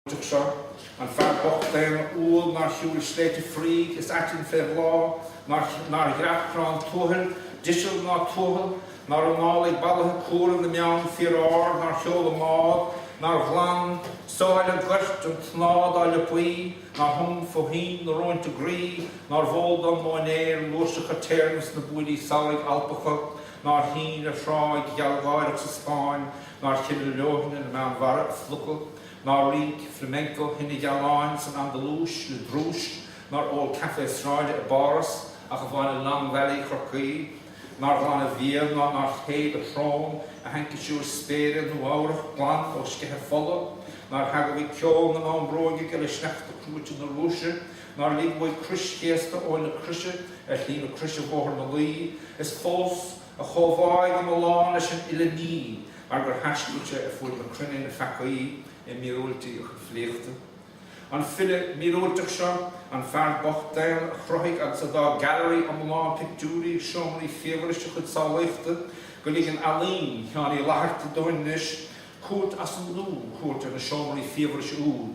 Tuig seo, an fear bocht daonna umhal nár shiúil sléibhte fraoigh is aitinn fé bhláth, nár dhreap Corrán Tuathail, deiseal ná tuathal, nár análaigh balaithe cumhra na mbeann fíor-ard, nár sheol i mbád, nár ghlan sáile goirt an tsnámha dá liopaí, nár thum fó thoinn na róinte groí, nárbh eol dó móinéir fhlúirseacha téarnaimh sna buailí samhraidh Alpacha, nár shín ar thráigh ghealgháireach sa Spáinn, nár chimil leoithne na Meánmhara a phluca. Nár rinc flamenco thine ghealáin san Andalúis le drúis, nár ól caife sráide i bPáras ach amháin i Long Valley Chorcaí, nár ghlan a bhéal ná nár shéid a shrón i haincisiúr spéire Nua-Eabhrach glan ó sceitheadh fola, nár theagmhaigh ceol na mbonn bróige le sneachta cruaite na Rúise, nár lig uaidh crois chéasta Eoin na Croise ar shlí na Croise Bhóthar na Laoi, is fós. A chomhbháidh iomlán leis an uile ní mar gur thaistil sé ar fuaid na cruinne ná feaca, i míorúiltí a chuid filíochta. An file míorúilteach seo, an fear bocht daonna a chruthaigh agus a d'fhág gallery iomlán pictiúirí i seomraí fiabhrais a chuid samhlaíochta, go ligeann ealaín Sheáin Uí Fhlaithearta dúinn anois cuairt as an nua a thabhairt ar na seomraí fiabhrais úd,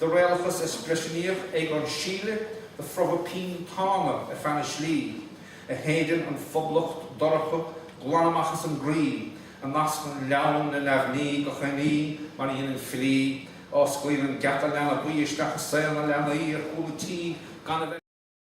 De réalachas eispriseanaíoch Egon Schiele do phromhadh pinn Tána ar feadh na slí, a shéideann an phoblacht dorcha glan amach as an gcroí, a nascann leamhan le neamhní gach aon ní mar a dheineann filí, a osclaíonn an geata leanbaí isteach i saol na leanaí ar chúl an tí gan a bheith.